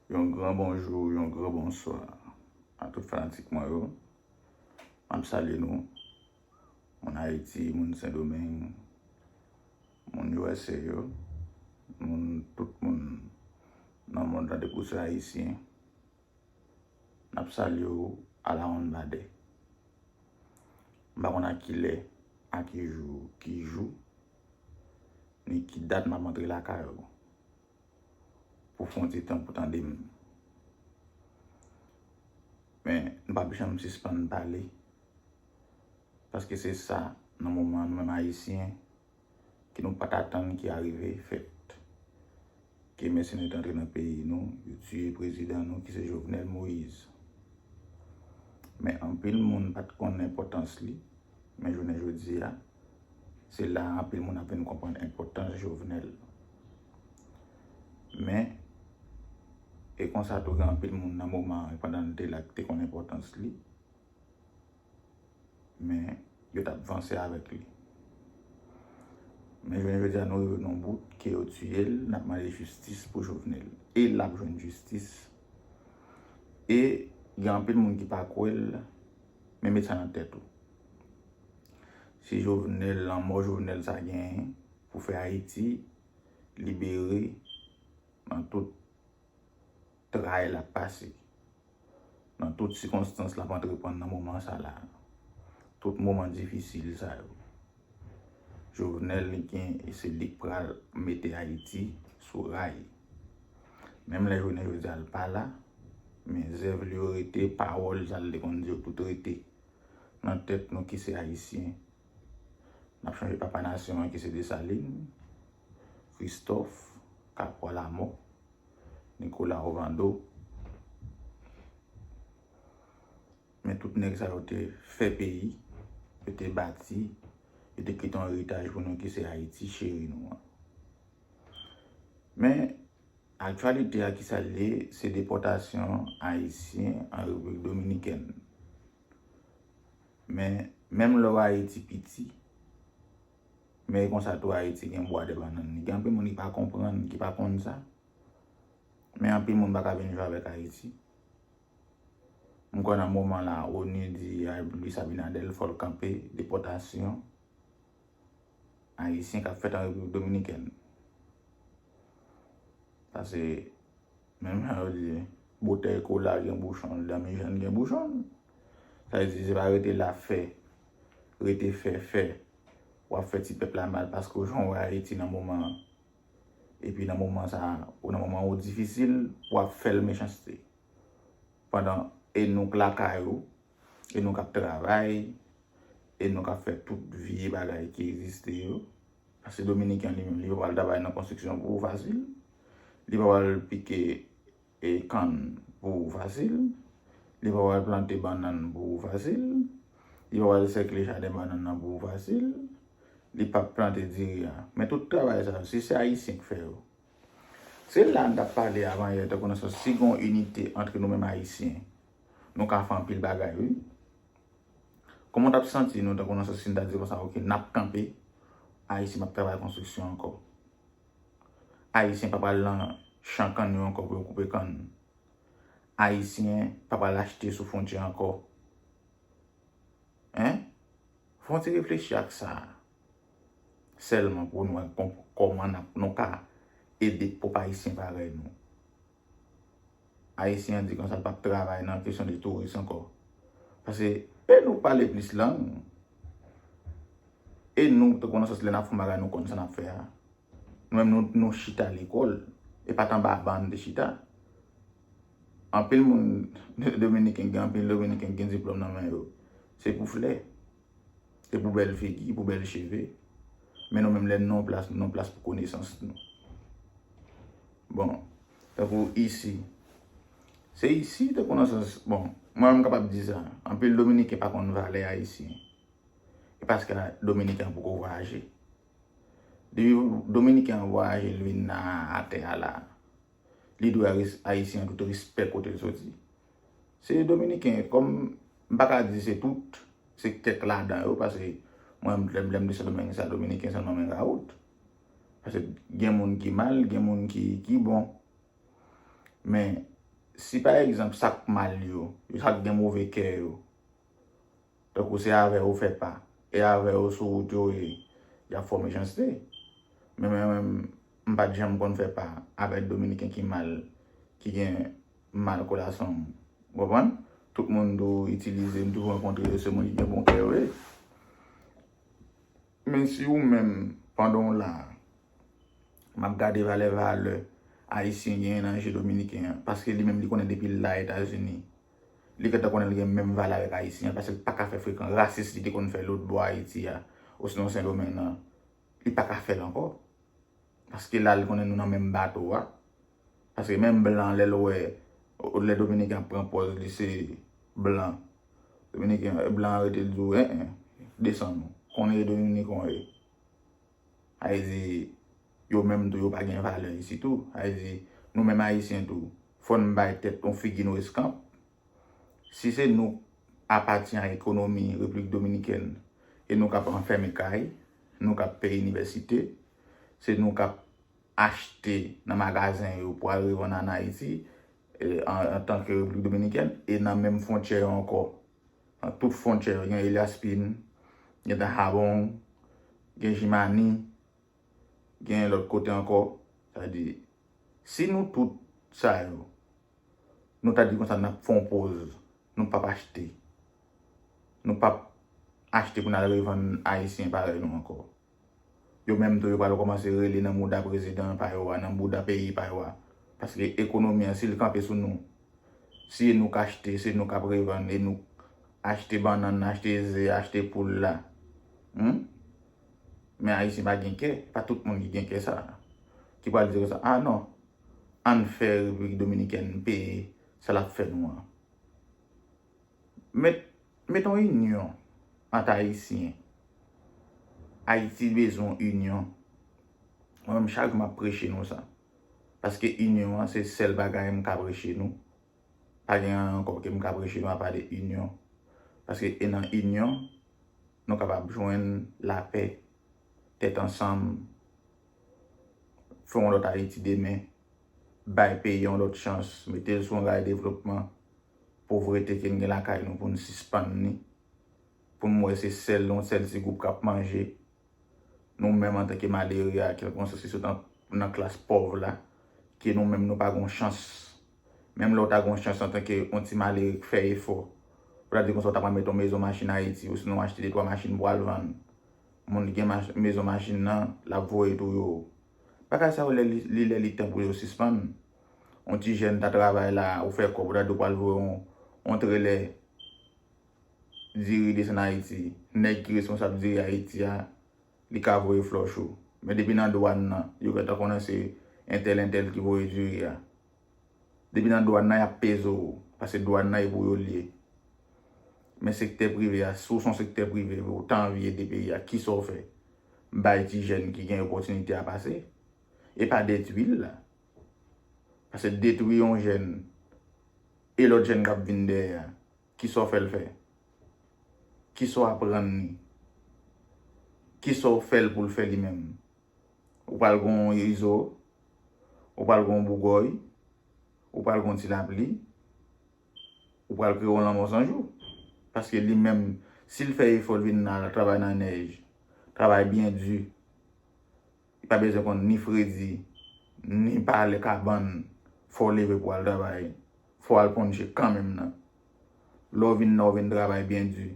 Yon gran bonjou, yon gran bonswa a tout fanatik mwen yo. Map salye nou, moun Ayiti, moun Sendomeng, moun usa yo, moun tout moun nan mond la depi w se Ayisyen. Nap salye w alawonnbadè. M pa konn a ki lè, a ki jou, ki jou, ni ki dat map antre lakay ou. pou fon ti tan pou tande m. Men, m pap janm sispann pale, paske se sa nan moman nou menm Ayisyen ke nou pat atann ki arive fèt. Ke mèsenè te antre nan peyi nou, yo tiye prezidan nou ki se Jovenel Moïse. Men anpil moun pat konnen enpòtans li, men jounen jodi a, Se la a anpil moun ap vin konprann enpòtans Jovenel. Men, e konsa tou gen anpil moun nan moman an, pandan l te la, ki te konn enpòtans li, men yo t ap vanse avèk li. Men jounen jodi a nou rive nan yon bout ke yo tiye l, n ap mande jistis pou Jovenel. E l ap jwenn jistis. E gen anpil moun ki pa kwè l. Men met sa nan tèt ou. Se Jovenel, lanmò Jovenel sa genyen pou fè Ayiti libere nan tout tray lap pase. Nan tout sikonstans lap antreprann nan moman sa la. Tout moman difisil sa yo. Jovenel li gen e se lik pral mete ayiti sou ray menm lè jounen jodia l pala men zèv li yo rete pawòl sa l te konn di yo tout rete nan tèt nou ki se ayisyen nap chanje papa nasyon an ki se desalin kristòf kapwa lamò nikola ovando. Men tout nèg sa yo te fè peyi, yo te bati, yo te kite yon eritaj pou nou ki se Ayiti cheri nou an. Men, aktyalite a ki sa l ye, se depòtasyon Ayisyen an Repiblik Dominikèn. Men, menm lò Ayiti piti, men e konsa tou Ayiti gen bwa de bannann li. Gen anpil moun ki pa konprann, ki pa konn sa. Men anpil moun pa ka vin viv avèk Ayiti. M kwè nan moman la onu di Luis Abinader fò l kanpe depòtasyon ayisyen k ap fèt an Repiblik Dominikèn. Sa se menm jan yo di boutèy kola gen bouchon l, danmi jèn gen bouchon l. Sa vle di se pa rete la fè, rete fè fè, w ap fè ti pèp la mal paske w jan w wè Ayiti nan moman an. Epi nan moman sa, ou nan moman ou difisil, ou ap fè l mechanste. Pandan e nou k lakay ou, e nou k ap travay, e nou k ap fè tout vye bagay ki egziste yo. Paske Dominiken li menm, li pa pral travay nan konstriksyon pou ou fasil. Li pa pral pike e kann pou ou fasil, li va pral plante bannann pou ou fasil, li va pral sèkle jaden bannann nan pou ou fasil, li p ap plante diri a. Men tout travay sa yo, si se Ayisyen ki fè yo. Se la n t ap pale avanyè tankou nan sans si gen yon inite antre nou menm Ayisyen, nou ka fè anpil bagay wi. Kòman w t ap santi nou tankou nan sans si n ta di konsa ok n ap kanpe, Ayiti p ap travay konstriksyon ankò? Ayisyen pa pral lan chan kann yo ankò pou yo koupe kann. Ayisyen pa pral achte sou fwontyè ankò. Hein? Fè yon ti reflechi ak sa a sèlman pou nou wè kòman nou ka ede pwòp Ayisyen parèy nou. Ayisyen an di konsa l pap travay nan kesyon de touris ankò. Pase e nou pale plis lang, e nou tankou nan sans lè n ap fè yon bagay nou konn sa n ap fè a. Nou menm nou nou chita lekòl, e pa t anba ban n te chita. Anpil moun dominiken gen anpil dominiken ki gen diplòm nan men yo. Se pou flè. Se pou bèl figi, pou bèl cheve. Men nou menm lè nou nan yon plas, nou nan yon plas pou konesans nou. Bon, tankou isi. Se isi tankou nan sans, bon, mwen menm m kapab di sa. Anpil dominiken pa konn valè ayisyen. E paske dominiken an poko vwayaje. Depi dominiken an vwayaje li vin nan atè a la, li dwe ayisyen an tout respè kote l soti. Se dominiken kom m pa ka di se tout se kek ladan yo pase mwen lem lem de sendomeng sa dominiken selman men raout pase gen moun ki mal gen moun ki ki bon men si pa egzanp sak mal yo yo sak gen move kè yo Tankou se avè yo fèt la, e avè yo sou wout yo e y ap fò mechanste. Men mwen menm, m pa t janm konn fè pa avè Dominiken ki mal, ki gen mal kolasyon. Ou konprann? Tout moun m toujou itilize, m toujou rankontre yo, se moun ki gen bon kè yo ye. Men si ou menm, pandan w la a, m ap gade valè valè Ayisyen genyen nan je Dominiken an, paske li menm li konnen depi l la Etazini, Li gentan konnen li gen menm valè avèk Ayisyen an pase l pa ka fè frekan rasis li te konn fè lotbò Ayiti a osnon Sendomeng nan. Li pa ka fè l ankò. Paske la li konnen nou nan menm bato a. Paske menm blan lè l wè, lè Dominiken ap pran pòz li se blan, Dominiken, blan an rete l di w, en en, desann ou, konnen e Dominiken w ye. Sa vle di, yo menm tou yo pa gen valè isit tou. Sa vle di, nou menm Ayisyen tou, fò n bay tèt nou figi nou eskanp. Si se nou k apati a ekonomi Repiblik Dominikèn e nou k ap anfème kay, nou k ap peye inivèsite, se nou k ap achte nan magazen yo pou al revann ann Ayiti antanke Repiblik Dominikèn e nan menm fwontyè yo ankò Nan tout fwontyè yo gen Eliaspin, gen Dahabong, gen Jimani, gen lòt kote ankò. Sa vle di, si nou tout sa yo, nou ta di konsa n ap fè yon poz, nou pap achte. Nou pap achte pou n al revann Ayisyen parèy nou ankò. Yo menm tou yo pral kòmanse rele nan mouda prezidan pa yo a, nan bouda peyi pa yo a. Paske ekonomi an si l kanpe sou nou, si e nou k achte, se nou k ap revann, e nou k achte bannann nan, achte ze a, achte poul la. Hum! Men Ayisyen pa gen kè, pa tout moun ki gen kè sa a. Ki pral di konsa, ah non, ann fè Repiblik Dominikèn peye sa l ap fè nou an. Met Met yon inyon ant ayisyen. Ayiti bezwen yon inyon. Mwen menm chak jou map preche nou sa. Paske inyon an se sèl bagay mka preche nou. Pa gen anyen ankò ke mka preche nou apa de inyon. Paske e nan inyon nou kapab jwenn lapè, tèt ansanm, fè yon lòt ayiti demen. bay peyi yon lòt chans, mete l sou yon ray devlopman, povrete ke n gen lakay nou pou n sispann li, pou n wè se sèl yon sèl ti gwoup k ap manje, nou menm antanke malere a, kèlkonsa si sou nan klas pòv la, ke nou menm nou pa gen yon chans. Menm lè w ta gen yon chans antanke yon ti malere k fè efò, pou ta di konsa w ta pral mete yon mezon machin Ayiti, osinon achte detwa machin pou w al vann. Moun ki gen mezon machin nan, l ap voye tou yo Bagay sa yo li lè li tan pou yo sispann. On ti jèn ta travay la, ou fè kòb ou ta di ou pral lwe on trelè diri desann Ayiti. Nèg ki responsab diri Ayiti a, li ka voye flòch ou. Men depi nan dwàn nan, yo gentan konnen se entèl entèl ki voye diri a. Depi nan dwan nan yap peze w. Pase dwan nan e pou yo liye. Men sektè prive a, si w son sektè prive ou ta anvi ede peyi a kisa w fè? Bay ti jèn ki gen opòtinite a pase. E pa detwi l la. Pase detwi yon jèn e lòt jèn kap vin dèyè a kisa w fè l fè? Kisa w aprann li? Kisa w fè l pou l fè li menm? Ou pral gen yon izo, ou pral gen yon bougòy, ou pral gen yon ti lapli, ou pral kreye yon lanmò san jou. Paske li menm, si l fè efò l vin nan al travay nan nèj, travay byen di, li pa bezwen konn ni fredi, ni pale kabann, fò w leve pou w al travay, fò w al ponche kanmenm nan. Lè w vin nan, w vin travay byen di.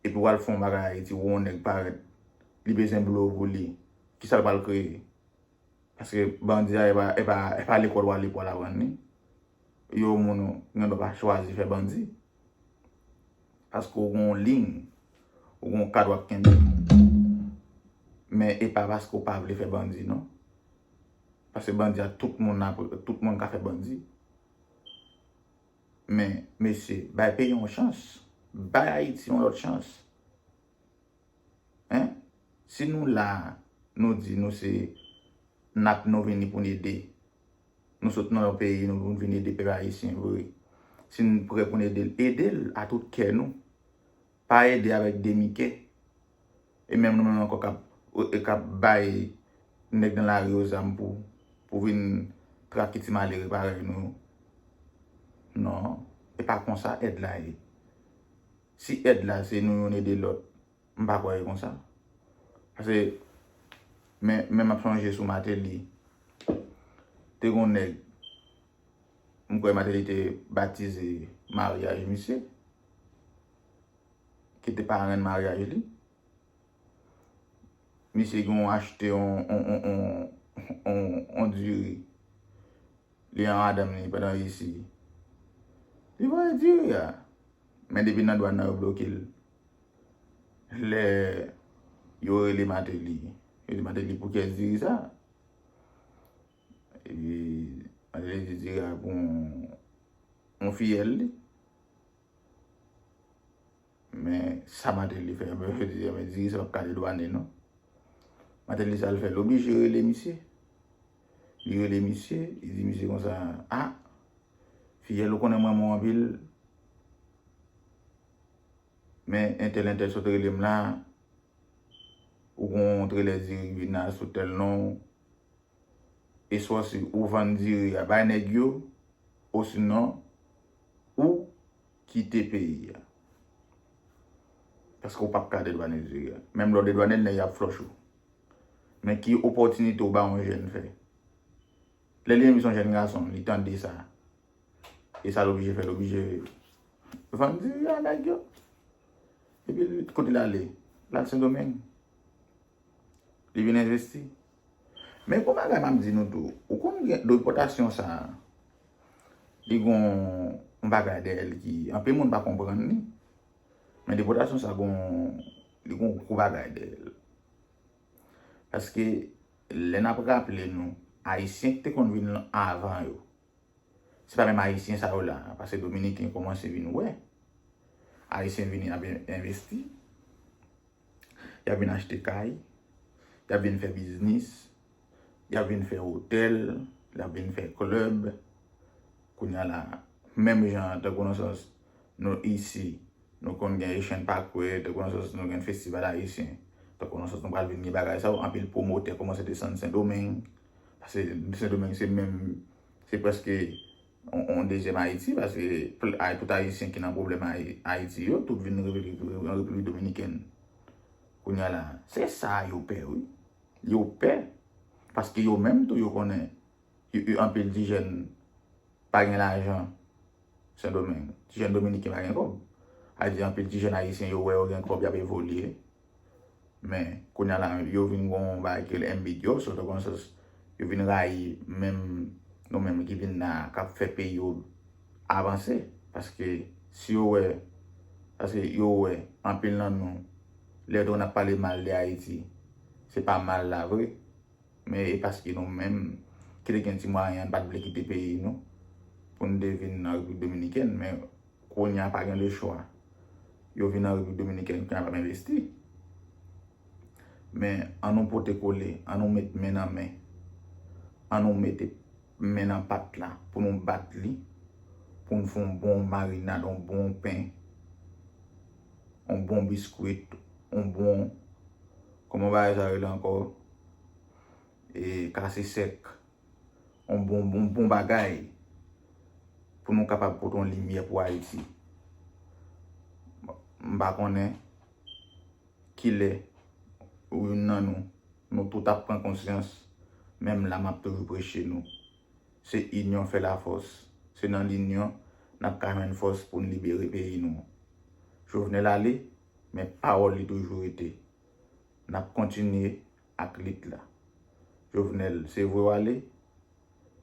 epi wal fon bagay ayiti wè yon nèg parèt li bezwen blo pou li kisal pral kreye paske bandi a epa lekòl wale pou wal aprann li yo moun gen dwa pa chwazi fè bandi paske ou gen yon liy ou gen yon kad wap kenbe men epa paske ou pa vle fè bandi non paske bandi a tout moun ka fè bandi. Men mesye bay peyi yon chans bay ayiti yon lòt chans hein si nou la nou di nou se nap nou vini poun ede nou sot nan yon peyi nou poun vin ede pèp ayisyen vre si nou prè poun edel edel a tout kè nou Pa ede avèk demike. E menm nou menm ankò kap kap bay nèg nan lari yo zam pou pou vin trafike ti malere parèy nou yo. Non, e pa konsa èd la ye. Si èd la se nou youn ede lòt, m pa kwè e konsa. Pase men men map sonje sou Mateli, te gon nèg M kwè Martelly te batize maryaj misye, ki te parenn maryaj li. Misye gen yon achte yon diri, li an madanm li pandan resi. Li voye diri a. Men depi nan dwan nan yo bloke l. Lè yo rele Martelly, yo di Martelly pou kyès diri sa? Epi Angelina di Rara pou yon fiyèl li. Men sa Mateli fè anba yo di anba diri sa pap kale dwane non. Mateli sa l fè l oblije rele misye. Li rele misye, li di misye konsa a fiyèl ou konnen m renmen w anpil men entèl entèl sot rele m la ou gon yon trelè diri ki vin la sou tèl non. eswa si ou vann diri a bay nèg yo osinon ou kite peyi a paske ou pap ka dedwane diri a menm lè ou dedwane l nèg yo ap flòch ou men ki opòtinite ou bay yon jèn fè lè li envite yon jèn gason li tande sa e sa l oblije fè l oblije vann diri a nèg yo epi kote l ale l al sendomeng Li vin envesti. Men gon bagay map di nou tou. Ou konn gen depòtasyon sa a. Li gon yon bagay dèyè li ki anpil moun pa konprann li. Men depòtasyon sa gon li gon gwo bagay dèyè l. Paske lè nap raple nou ayisyen ki te konn vin anvan yo. Se pa menm ayisyen sa yo la, pase dominiken komanse vin wè, ayisyen vini ap envesti, y ap vin achte kay, y ap vin fè biznis, y ap vin fè otèl, y ap vin fè klèb, kounya la, menm jan tankou nan sans nou isi, nou konn gen echann pa kwe, tankou nan sans nou gen festival ayisyen, tankou nan sans nou pral vin gen bagay sa yo, anpil pwomotè komanse desann sendomeng. Pase Sendomeng se menm, se preske yon dezyèm Ayiti, pase tout Ayisyen ki nan pwoblèm Ayiti yo, tout vin nan Repiblik Dominikèn. Kounya la, se sa yo pè wi. Yo pè, paske yo menm tou yo konnen, yo anpil ti jèn pa gen lajan Sendomeng. Ti jèn Dominiken pa gen kòb. Sa vle di anpil ti jèn Ayisyen yo wè yo gen kòb, y ap evolye. Men, kounya la yo vin gon yon bagay ki rele MBDO, sot an konsyans, yo vin rayi menm nou menm ki vin la a, k ap fè peyi yo avanse. Paske, si yo wè, paske yo wè, anpil nan nou, lè yo te konn ap pale mal de Ayiti, se pa mal la vre, men e paske nou menm, ki te gen ti mwayen an, nou pa t vle kite peyi nou, pou nou te vin nan Repiblik Dominikèn, men. Kounya pa gen le chwa. Yo vin an Repiblik Dominikèn kounya pa p envesti. Men an nou pote kole, an nou met men nan men, an nou mete men nan pat la pou nou bat li, pou n fè yon bon marinad, yon bon pen, yon bon biskwit, yon bon, kòman bagay sa yo rele ankò? Ee, kase sèk. yon bon bagay pou nou kapab pote yon limyè pou Ayiti. M pa konnen kilè ou youn nan nou, nou tout ap pran konsyans, men m la m ap toujou preche nou. Se inyon fè lafòs. Se nan linyon n ap ka jwenn fòs pou n libere peyi nou. Jovenel ale, men pawòl li toujou rete. N ap kontinye ak lit la. Jovenel, se vre w ale,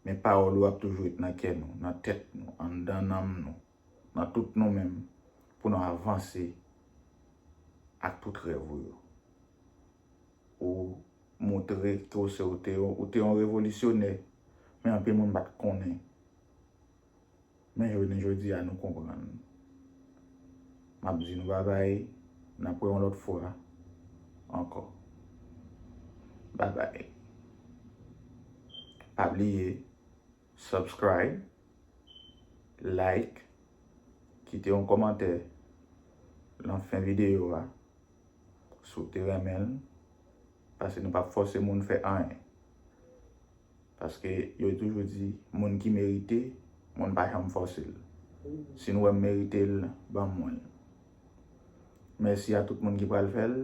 men pawòl ou ap toujou ret nan kè nou, nan tèt nou, anndan nanm nou, nan tout nou menm, pou nou avanse ak tout rèv ou yo. Ou moutre tou se ou te yon revolisyonè, men anpil moun pa t konnen. Men jounen jodi a nou konprann. M ap di nou babay, n ap wè yon lòt fwa ankò. Babay. Pa bliye subscribe, like, kite yon kòmantè lan fen videyo a si w te renmen l, paske nou p ap fòse moun fè anyen. Paske yo toujou di moun ki merite, moun pa janm fòse l. Si nou wè m merite l, ban mwen l. Mèsi a tout moun ki pral fè l.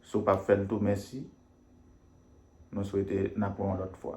Si w pap fè l tou mèsi. Nou swete n ap wè w yon lòt fwa.